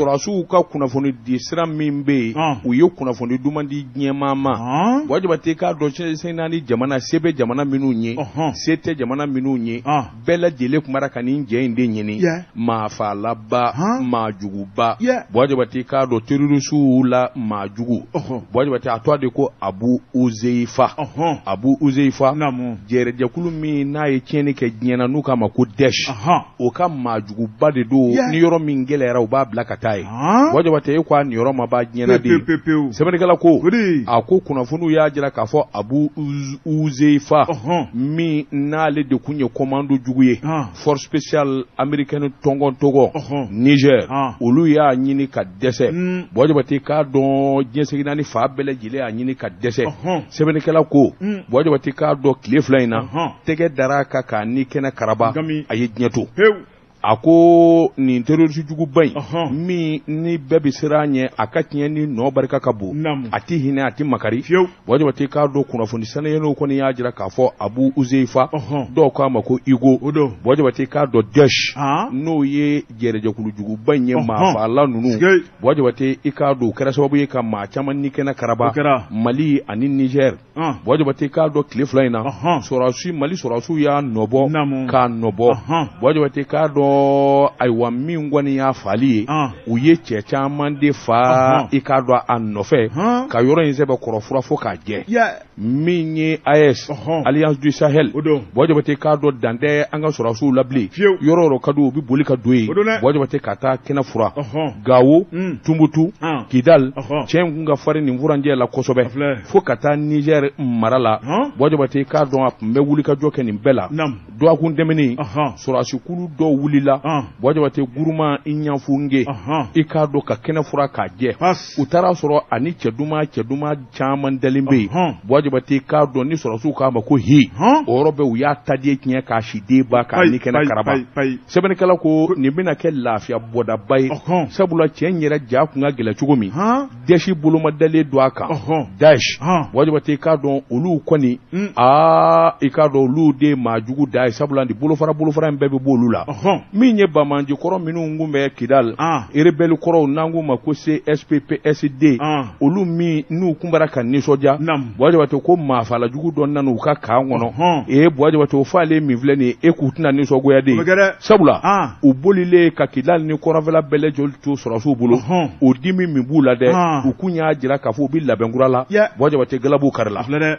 sɔrɔdasiw ka kunnafoni di sira min bɛ yen Ɔn. u ye kunnafoni duman di diɲɛmaa ma Ɔn. buwa jabatɛ i k'a dɔn diɲɛ seleke naani jamana se bɛ jamana minnu ye Ɔhɔn. se tɛ jamana minnu ye Ɔn. bɛɛ lajɛlen tun b'a la ka nin cɛ in de ɲini Yeah. maa faalaba Ɔn. maa juguba Yeah. buwa jabatɛ i k'a dɔn terorisiw la maa jugu Ɔhɔn. buwa jabatɛ a tɔgɔ de ko abu uzeyifa Ɔhɔn. abu uzeyifa Naamu. jɛrɛjɛkulu min n'a ye tiɲɛni kɛ diɲɛ na n'u k'a ma ko dɛsh Ɔhɔn. o ka maajuguba de don ni yɔrɔ min gɛlɛyara u b'a bila ka taa yen buwa jabatɛ i k'a nin yɔrɔ ma b'a diɲɛ na de sɛbɛnnikɛla ko a ko kunnafoniw y'a jira k'a fɔ abu uzeyifa min n'ale de tun ye komandan jugu ye force spéciale américaine tɔngɔ tɔngɔ nizɛri olu y'a ɲini ka dɛsɛ hmm. buwa jabatɛ k'a dɔn diɲɛ seleke naani fan bɛɛ lajɛlen y'a ɲini ka dɛsɛ sɛbɛnnikɛla ko buwa jabatɛ i k'a dɔn tile fila in na tɛgɛ dara a kan k'a ni kɛnɛ karaba a ye diɲɛ to a ko nin terorisi juguba in min ni bɛɛ bɛ siran a ɲɛ a ka tiɲɛni nɔ barika ka bon a tɛ hinɛ a tɛ makari buwa jabatɛ i k'a dɔn kunnafoni saniyalenw kɔni y'a jira k'a fɔ abu uzeyifa dɔw k'a ma ko igo buwa jabatɛ i k'a dɔn dɛsh n'o ye jɛrɛjɛkulujuguba in ye maafaala ninnu buwa jabatɛ i k'a dɔn kɛra sababu ye ka maa caman ni kɛnɛ karaba mali ani nizɛri buwa jabatɛ k'a dɔn tile fila in na sɔrɔdasi mali sɔrɔdasiw y'a nɔbɔ k'a nɔbɔ buwa jabatɛ k'a dɔn ayiwa min kɔni y'a faali ye u ye cɛ caman de fa i k'a dɔn a nɔfɛ ka yɔrɔ in sɛbɛkɔrɔ fura fo k'a jɛ min ye aes alliance du sahel buwa jabatɛ k'a dɔn dan tɛ an ka sɔrɔdasiw la bilen yɔrɔ o yɔrɔ ka di u bɛ boli ka don yen buwa jabatɛ ka taa kɛnɛ fura gawo tumutu kidali cɛ kun ka farin nin furancɛ la kosɛbɛ fo ka taa nizɛri mara la buwa jabatɛ i k'a dɔn a tun bɛ wulikajɔ kɛ nin bɛɛ la dɔgɔkun tɛmɛnen sɔrɔdasikulu dɔ wulila buwa jabatɛ guruma i ɲɛfge i k'a dɔn ka kɛnɛ fura k'a jɛ u taara a sɔrɔ a ni cɛ duman cɛ duman caman dalen bɛ yen buwa jabatɛ i k'a dɔn ni sɔrɔdasiw k'a ma ko higo yɔrɔ bɛɛ u y'a ta diɲɛ tiɲɛ k'a si de ban k'a ni kɛnɛ karaba sɛbɛnnikɛla ko nin bɛna kɛ lafiya bɔdaba ye sabula cɛ yɛrɛ ja tun ka gɛlɛn cogo min dɛsh boloma dalen don a kan dɛsh buwa jabatɛ i k'a dɔn olu kɔni aa i k'a dɔn olu de maa jugu da ye sabula ni bolofara bolofara in bɛɛ bɛ bɔ olu la min ye banbaganci kɔrɔ minnu tun bɛ kidali erebele kɔrɔw n'an k'u ma ko csp psd olu minnu tun b'a la ka nisɔndiya jabatɛ ko maafala jugu dɔ nana u ka kan kɔnɔ e ye buwa jabatɛ o faalen min filɛ nin ye k'u tɛna nisɔngoya dɛ sabula u bolilen ka kidali ni kɔrɔnfɛla bɛɛ lajɛlen to sɔrɔdasiw bolo Ɔhɔn. o dimi min b'u la dɛ Han. u kun y'a jira k'a fɔ u bɛ labɛn kura la Yɛ. buwa jabatɛ galabu karila Filɛ dɛ.